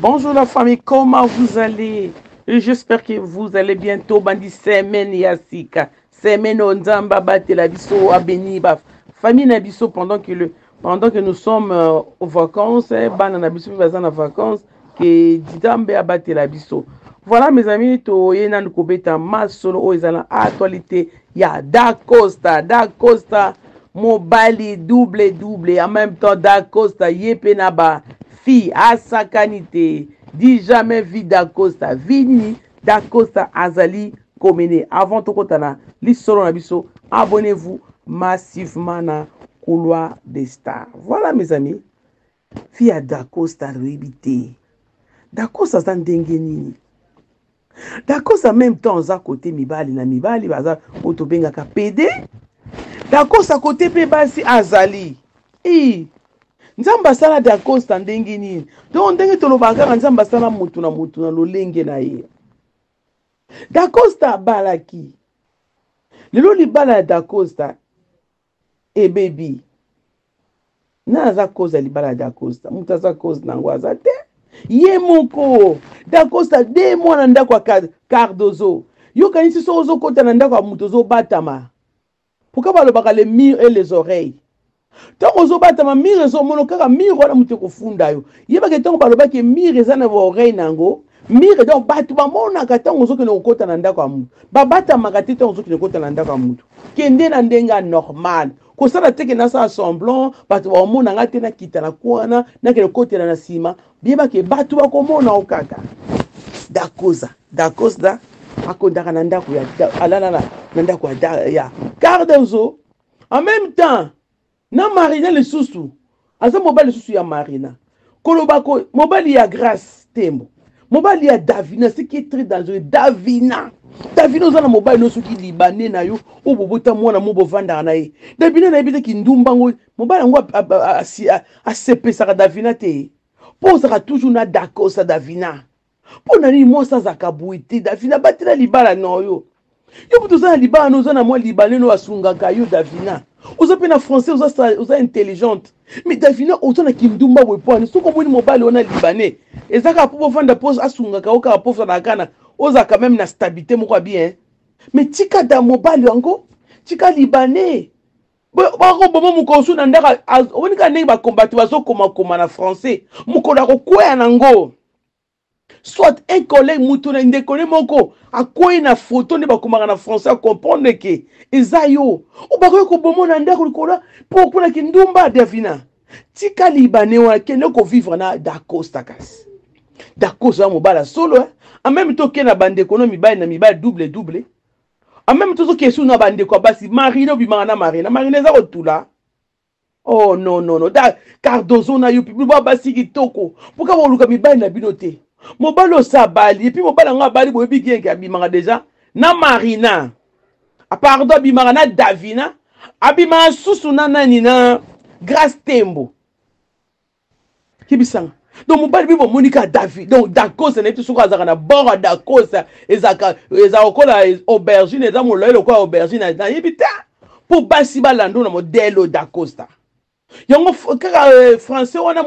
Bonjour la famille, comment vous allez J'espère que vous allez bientôt bandi semaine ya sika. Semaine onzamba batela biso abeni ba famille na biso pendant que le pendant que nous sommes euh, aux vacances eh, bana na biso mpe baza na vacances ke nzambe abatela biso voilà mes amis toye nanu kobeta masolo oyo eza na actualité ya da costa da costa mobali double double en même temps da costa ye mpe na ba fille asakani te dit jamais vie dacosta vie nini dacosta azali Komene avant tokota na lisolo na biso abonnez-vous massivement na couloir des stars voilà mes amis fille ya dacosta loyebi te dacosta aza ndenge nini dacosta meme temps aza kote mibali na mibali baza oyo tobengaka pede dacosta kote mpe basi azali ii nzambe asala dacosta ndenge nini donc ndenge tolobaka kaka nzambe asala motu na motu na lolenge na ye dacosta abalaki lelo libala ya dacosta ebebi na aza cause ya libala ya dacosta moto aza cause na yango aza te ye moko dacosta de mwa na ndako ya cardozo yokanisi soki ozokota na ndako ya moto ozobatama Pourquoi balobaka les murs et les oreilles? Tango ozo batama mur ezo mono kaka mur wana mutu eko funda yo. Yeba ke tango baloba ke mur eza na ba oreilles na yango, mur donc batu ba monaka tango ozo kende kokota na ndako ya mutu. Ba batamaka te tango ozo kende kokota na ndako ya mutu. Kende na ndenge ya normal. Kosala te ke nasala semblant batu ba komona nga te nakita na coin wana nakende kokotela na sima. Biyeba ke bato bakomona o kaka. Dakoza, Dakoza akondaka na ndako ya alalala na ndako ya ya Cardozo. En même temps, na Marina lisusu aza mobali lisusu ya Marina. Koloba ko mobali ya Grace Tembo. Mobali ya Davina, ce qui est très dangereux. Davina. Davina oza na mobali no soki libanais na yo oyo bobota mwana mo bovandaka na ye. Davina na yebi te kindumba ngo mobali yango asepesaka davina te mpo ozalaka toujours na dakosa davina mpo na nini mwasi azalaka boye te davina batela libala na yo yo moto oza na libala no oza na mwa libaneno oyo asungaka yo davina oza mpe na français oza, oza intelligente me davina oza na kindumba boye mpo ani soki omoni mobali wana libanais eza kaka mpo bovanda mpo asungaka yo kaka mpo ofandaka kana ozalaka meme na stabilité moko ya bien me tika da mobali yango tika libanais bakoboma mokonsu na ndako omoni kaka ndenge bakombati bazokomakoma na français mokolo akokwea nango soit un collègue moto na ndeko ne moko akwei na foto nde bakomaka na français acomprendre ke eza yo obakoki koboma na ndako likolo mpo okuna kindumba davina tika libane wana kende kovivre na dacosta kasi dacosta ya mobala solo en meme to oke na bandeko no mibali na mibali double double en même tozo question na bandeko ya basi marina obimaka na marina marina eza kotula oh non non non da cardozo na yo biba basi kitoko mpoka boluka mibali na bino te mobali osi abali epuis mobali yango abali boyebi genke abimaka deja na marina ah, pardon abimaka na davina abimaka susu na nani na grace tembo kibisanga donc mobali mpe bomoni kaka david donc dakosa nayebi te soki azalaka na bord ya dakosa ezalaka ezalaka lokola aubergine eza molai lokola aubergine nayebi te mpo basi balando na modelo dacosta yango kaka euh, français wana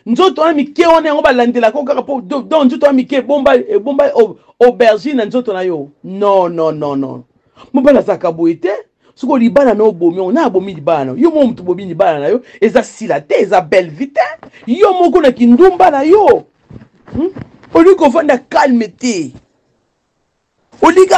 nzoto wana mike wana yango balandelaka kaka mpo don nzoto wana mike ebomba ebomba aubergine na nzoto na yo non non non non mobali azalaka boye te soko libala na obomi yango na abomi libala na yo moko moto bobi libala na yo eza sila te eza belle vie te yo moko na kindumba na yo hmm? olingi kovanda calme te olingi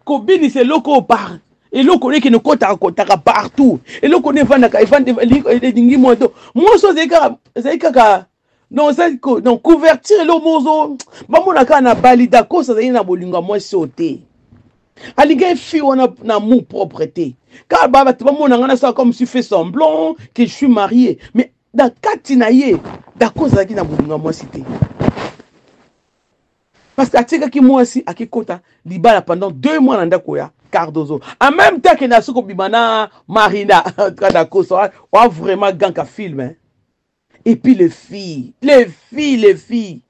kobinisa eloko oyo par eloko oyo ekende kotaka kotaka partout eloko oyo evandaka elingi moto mwasi oyo ezali kaka non ozali ko non couverture eloko moko ozo bamona kaka na bali dakos azali na bolingo ya mwasi oyo te alingaki fille wana na amour propre te kaka ba bato bamona ngai nasala comme si fait semblant que je suis marié mais na kati na ye dakos azalaki na bolingo ya mwasi te parce que atikaki mwasi akikota libala pendant deux mois na ndako ya cardozo en même temps kende asoki kobima na marina kadakoso wa vraiment ganka film hein? et puis les filles les filles les filles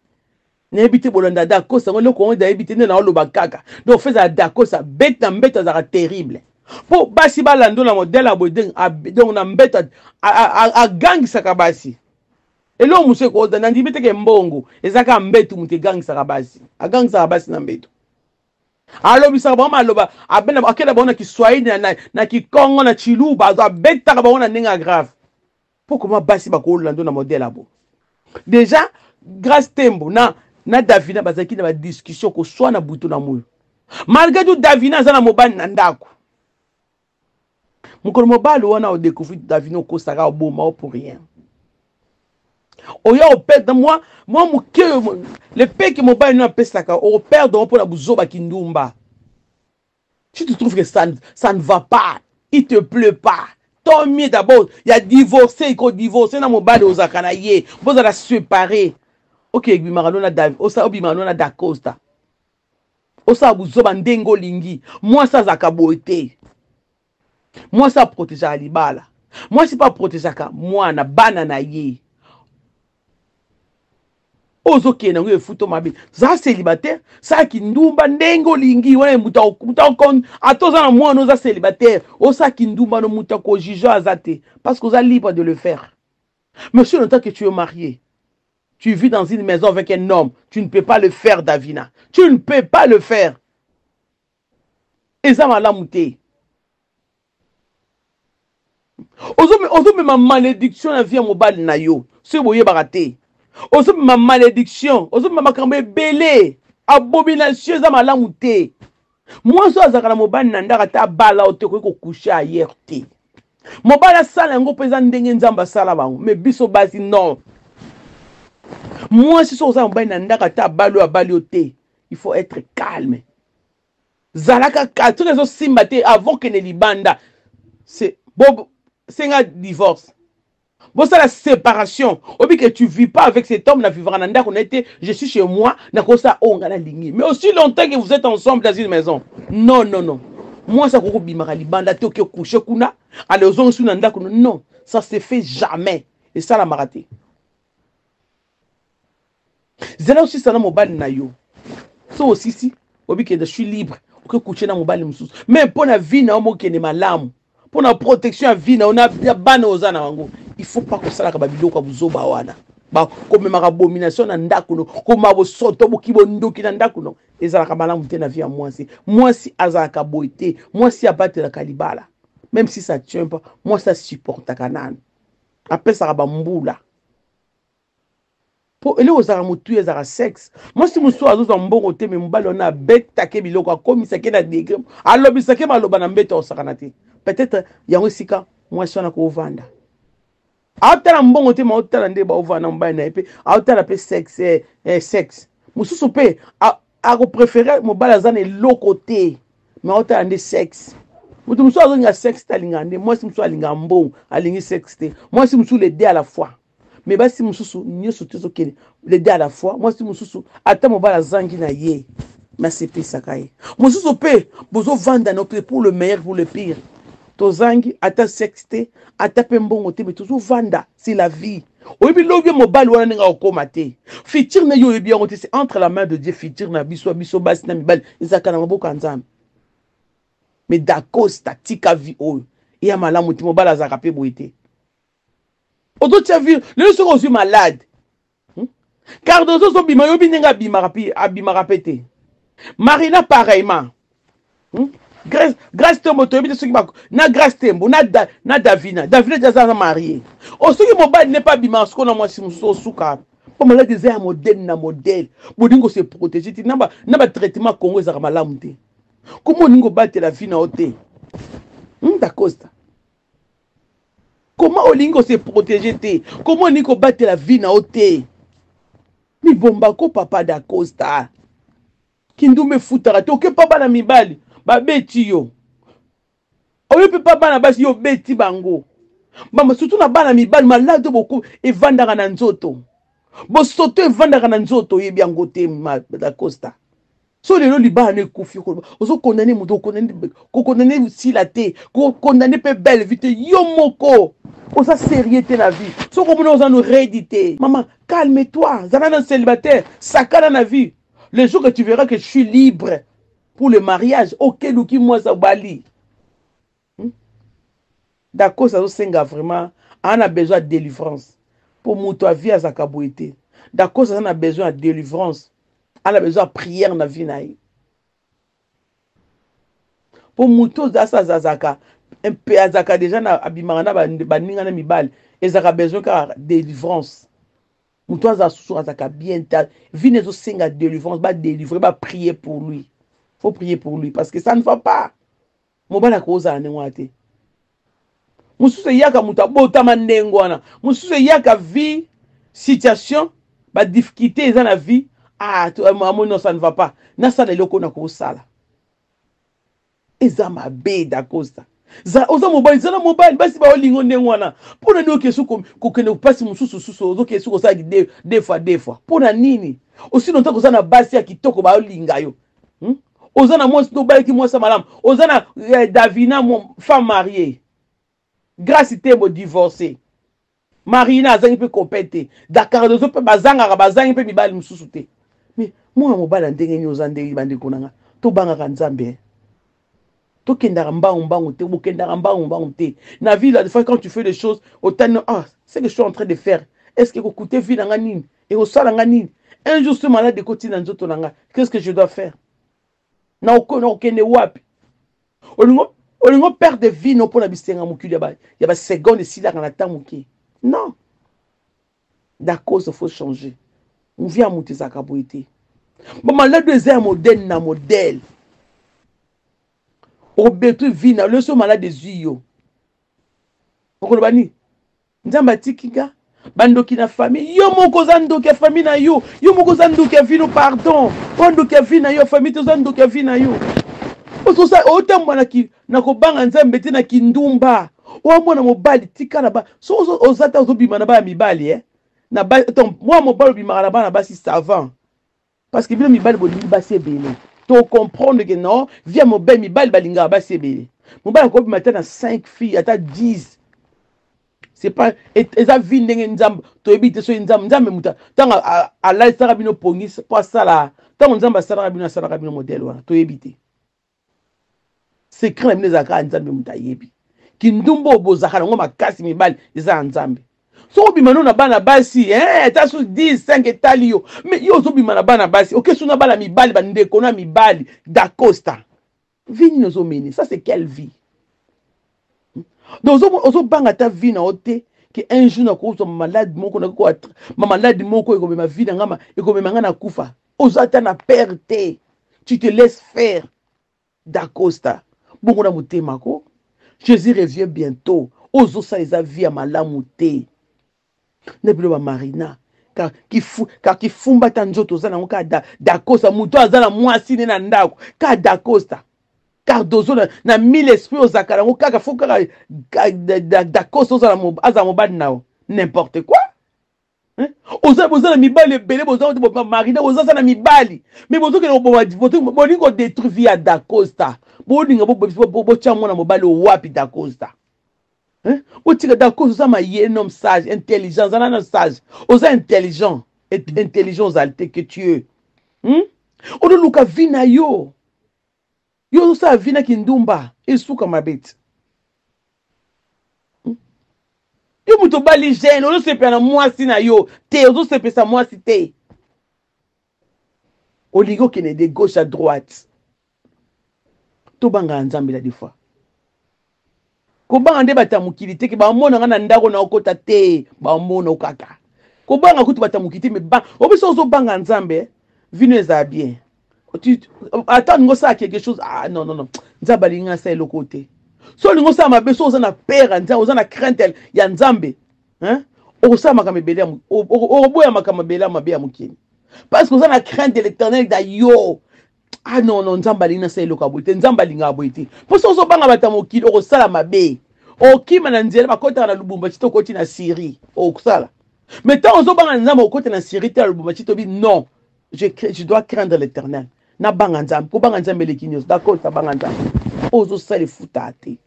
nayebi te bolanda dakos yango eloko yango nayebi te nde naoloba kaka donc feza ya dakos abeti na mbeto azalaka terrible mpo basi balando na modele ya boye donc na mbeto agangisaka basi eloko mosusu ekoda nandimi teke mbongo ezalaka mbeto moto egangisaka basi agangisaka basi na mbeto alobisaka bango maloba akenda bango na kiswahili na kikongo na chiluba abetaka bango na ndenge ya grave Pour comment basi ba ko lando na modèle abo. Déjà Grace Tembo na na Davina bazaki na ba discussion ko swana butu na moyo. Malgré tout Davina aza na mobali na ndako. Mokolo mobali wana o découvrir Davina okosaka oboma o pour rien. Oya o perdre moi moi moke le peki mobali na pesaka o perdre mpo na buzoba kindumba. si tu trouves que ça, ça ne va pas il te pleut pas tant mieux d'abord ya divorce iko divorce na mobali ozalaka na ye bozala séparé oke ebimaka nona obimaka nona dacosta osala buzoba ndenge olingi mwasi azalaka boye te Mwasi a protegeaka libala. Mwasi mpe a protegeaka mwana, bana na ye. Oyo ozokende yango efuto mabe. Za célibataire, sala kindumba ndenge olingi, wana moto akokon ata oza na mwana oza célibataire, osala kindumba no moto ako juge aza te parce que oza libre de le faire. Mais si en tant que tu es marié, tu vis dans une maison avec un homme, tu ne peux pas le faire Davina. Tu ne peux pas le faire. eza malamu te ozomema malédiction na vie ya mobali na yo soki boyebaka te ozomema malédiction ozomema makambo ebele abomination eza malamu te mwasi oyo azalaka na mobali na ndako ata abala oyo te okoki kokushe ayere te mobali asala yango mpo eza ndenge nzambe asala bango me biso basi non mwasi soki oza na mobali na ndako ata abali oyo abali yo te il faut être calme zalaka ka soki ezosimba te avant kende libanda se bo senga divorce bosala séparation obi que tu vis pas avec cet homme na vivaka na ndako na ye te je suis chez moi nakosala oyo ngai nalingi mais aussi longtemps que vous êtes ensemble dans une maison non non non mwasi akoki kobimaka libanda te oke couche kuna ale ozongisi na ndako non ça se fait jamais esalamaka te zela osisa na mobali na yo so osisi obikende suis libre oke kuche na mobali mosusu me mpo na vie na yo mokende malamu mpo na protection ya vie na yo na bana oza na yango il faut pas kosalaka babiloko ya buzoba wana komemaka abomination na ndako no komema bosoto boki bondoki na ndako no ezalaka malamu te na vie ya mwasi mwasi azalaka boye te mwasi abatelaka libala meme si ça tient pas mwasi asupportaka nanu apesaka bambula po eloko ezalaka motuya ezalaka sexe mwasi mosusu azozwa mbongo te me mobali wana abetake biloko akomisake na degre alobisake maloba na mbeto akosakana te peut-être yango esika mwasi wana kovanda aotala mbongo te maotala nde baovanda na mobali na ye mpe aotala mpe sexe eh, eh, sexe mosusu mpe akoprefere mobali aza na eloko te me aotala nde sexe moto mosusu azolinga sexe te alingaka nde mwasi mosusu alingaka mbongo alingi sexe te mwasi mosusu le de à la fois mais basi mosusu nyonso te ezokende les deux à la fois mwasi mosusu ata mobali azangi na ye mais asepesaka ye mosusu mpe bozovanda na mpe pour le meilleur pour le pire tozangi ata sexe te ata mpe mbongo te mais tozovanda c'est la vie oyebi lobi mobali wana ndenge akokoma te futur na ye oyebi yango te c'est entre la main de dieu futur na biso biso basi na mibali ezalaka na maboko ya nzambe mais dacosta tika vie oyo eya malamu te mobali azalaka mpe boye te ozotia vire lelo soki ozwi malade hmm? cardozo ozobima yobi ndenge abimaka mpe abimaka mpe te marina pareillement hmm? grace, grace tembo toyebi te soki na grace tembo na, da, na davina davina ti aza na marie o oh, soki mobali ne mpe abimaka soko na mwasi mosusu osuka mpo maladi eza ya modele na modele bolingi kose protege te na batraitement congo ezalaka malamu te koma olingi kobatela vi na yo te hmm, dacosta Comment olingi ko se protéger te? Comment olingi ko batela vie na yo te? Mibomba ko papa da Costa. Kindumbe futaka te oke pa bana mibali babeti yo. Oyo pe pa bana basi yo beti bango. Mama surtout na bana mibali malade boku evandaka na nzoto. Bosoto evandaka na nzoto yebi yango te ma da Costa. so lelo libala no ekufi okoloba ozo condamne moto kokondamne sila te kokondamne mpe belle vie te yo moko oza sérieux te na vie soki omona oza no redi te mama calme toi zala na célibataire sakana na vie le jour que tu verras que je suis libre pour le mariage okeluki mwasi obali Hmm? Dakos azosenga vraiment aza na besoin ya délivrance mpo moto ya vie azalaka boye te. Dakos aza na besoin ya délivrance, aza na besoin ya prière na vie na ye mpo moto oyo asa azalaka mpe azalaka deja na abimaka na baninga na mibali ezalaka besoin kaka délivrance moto azala susu azalaka bien te vine ezosenga délivrance badélivre baprie pour lui faut prier pour lui parce que ça ne va pas Mobali akozala ndenge wana te. Mosusu eyaka moto abotama ndenge wana. Mosusu eyaka vie, situation, ba difficultés eza na vie. Ah, amoni non, ça ne va pas. Nasala eloko na kosala. Eza mabe dacosta. oza mobali zala mobali basi baolingo ndenge wana mpo na nini oke su kokende mpasi mosusu susu ozoke su kosala de fois de fois mpo na nini osino ntango oza na basi ya kitoko baolinga yo hmm? oza na mwasi tobalaki mwasi ya malamu oza na eh, davina femme mariée grace tembo divorce marina azangi mpe copain te dakardozo mpe bazangaka bazangi mpe mibali mosusu te mais mwana mobali ya ndenge nini oza ndenge bandeko na nga tobangaka nzambe eh? tokendaka mbangu mbangu te bokendaka mbangu mbangu te na vie la des fois quand tu fais des choses otani ah ce que je suis en train de faire est ce que ekokute vie na nga nini ekosala nga nini un jour ce malade ekotina nzoto na nga qu'est ce que je dois faire na okende wapi olingo olingo perte de vie no mpo na bisenga mokili ya basegonde esilaka na temps moke non Dacosta faut changer. Vie ya moto ezalaka boye te. Ba malade eza ya modèle na modèle. Obetui vie na leso malade ezui yo. Okoloba nini? Nzambe atiki nga bandoki na famille yo moko oza ndoki ya famille na yo yo moko oza ndoki ya vino pardon oza ndoki ya vie na yo famille te oza ndoki ya vie na yo otambola na na kobanga nzambe te na kindumba oyo mwana mobali tika na ba so oza ta ozobima na bana mibali e eh? na ba ton mwana mobali obimaka na bana basi savant parce que bino mibali bolingi basi ebele to comprendre que non via mobali mibali balingaka basi ebele mobali akobima ata na 5 fille ata 10 c'est pas eza vie ndenge nzambe toyebi te soki nzambe nzambe moto ntango alalisaka bino pongi mpo asala ntango nzambe asalaka bino asalaka bino modele wana toyebi te secret na bino ezalaka ya nzambe moto ayebi kindumba oyo bozalaka nango makasi mibali eza ya nzambe soki obima no na bana basi eh, ata su 10 5 etali yo me yo ozobima na bana basi oke su na bana mibali bandeko na mibali dacosta vie nini ozomene ça c'est quelle vie hmm? donc ozobanga ata vie na yo te ke un jour nakozwa malade moko nakokoa mamalade moko ekobema vie na ngama ekobema ngai na kufa oza ata na père te tu te laisse faire dacosta bongo na motema ko jésus revient bientôt ozosala eza vie ya malamu te na bino bamarina kaka kifumba ata nzoto oza nango kaka dacosta moto aza na mwasi ne na ndako kaka dacosta cardozo na, na mille esprit ozalaka nango kaka fo kaka dacosta ozala azala mobali na yo n'importe quoi Hein? oza boza na mibali ebele boza kote bobima marina boza za na mibali me bozokende koboma bolingi kodetruire vie ya dacosta bolinga botya mwana mobali owapi dacosta hein? botika dacosta oza maye nom sage intelligent zala na sage oza intelligent intelligent ozali te que tu es hmm? odoluka vie na yo Yo ozosala vie na kindumba esuka mabe ti. Hmm? Yo moto obali jeune ozosepela na mwasi na yo te, ozosepesa mwasi te. Olingi okende de gauche à droite. Tobangaka Nzambe la des fois. kobanga nde bato ya mokili te ke bamona nga na ndako na okota te bamona okaka kobanga kutu bato ya mokili te me ba obisa ozobanga nzambe eh? vino ezala bien ata olingi osala quelque chose ah, non non non nzambe alingi asala eloko te so olingi osala mabe so oza na pere ya nzambe oza na crainte ya nzambe hein? okosala makambo ebele okoboya makambo ebele ya mabe ya mokili parce que oza na crainte de l'éternel da yo ah non non nzambe alingi nasala eloko ya boye te nzambe alingaka boye te mpo soki ozobanga bato ya mokili okosala mabe okima na nzela bakotaka na lubumbashi to okoti na syrie okosala mais ntango ozobanga na nzambe okota na syrie te na lubumbashi tobi non je, je dois craindre l'éternel nabanga nzambe kobanga nzambe eleki nyonso d'accord tabanga nzambe oyo ozosala efutaka te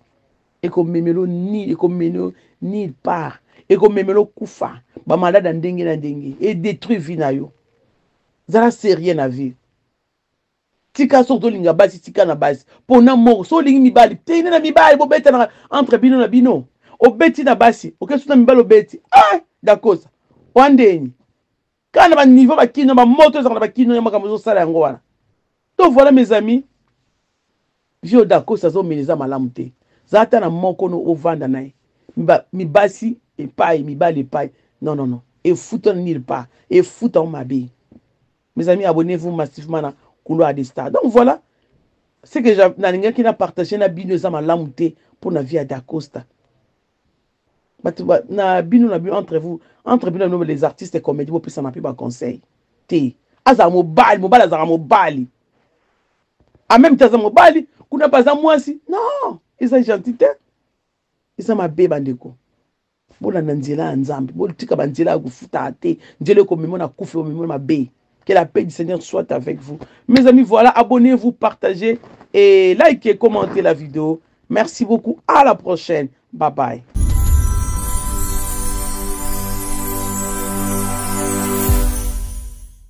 ekomemelo nil ekomemelo nil part ekomemelo kufa bamalade ya ndenge na ndenge edétruit vie na yo zala sérieux na vie tika soki ozolinga basi tika na basi pona moko so olingi mibali teine na mibali bobetanaka entre bino na bino obeti na basi okesu na mibali obeti ah dakosa wandeni kaka na baniveau bakino bamoto ezaka na bakino ya makambo ozosala yango wana to voilà mes amis vio dakosa azomela eza malamu te za ata na moko no ovanda na ye mibasi epai mibali epai non non non efuta na nil pa efuta o mabe Mes amis, abonnez-vous massivement na Couloir des Stars. Donc voilà, ce que nalingaki na partager na bino eza malamu te mpo na vie ya Dacosta. Bato na bino na bino entre vous, entre bino na bino les artistes et comédie bopesana mpe ba conseil te. Azala mobali, mobali azala mobali. En même temps aza mobali, kuna mpe aza mwasi. Non, eza gentil te. Eza mabe bandeko. Bolanda nzela ya Nzambe, botika ba nzela ya kofutaka te, nzela ekomema na kufa, ekomema na mabe. Que la paix du Seigneur soit avec vous. Mes amis, voilà, abonnez-vous, partagez et likez, commentez la vidéo. Merci beaucoup, à la prochaine. Bye bye.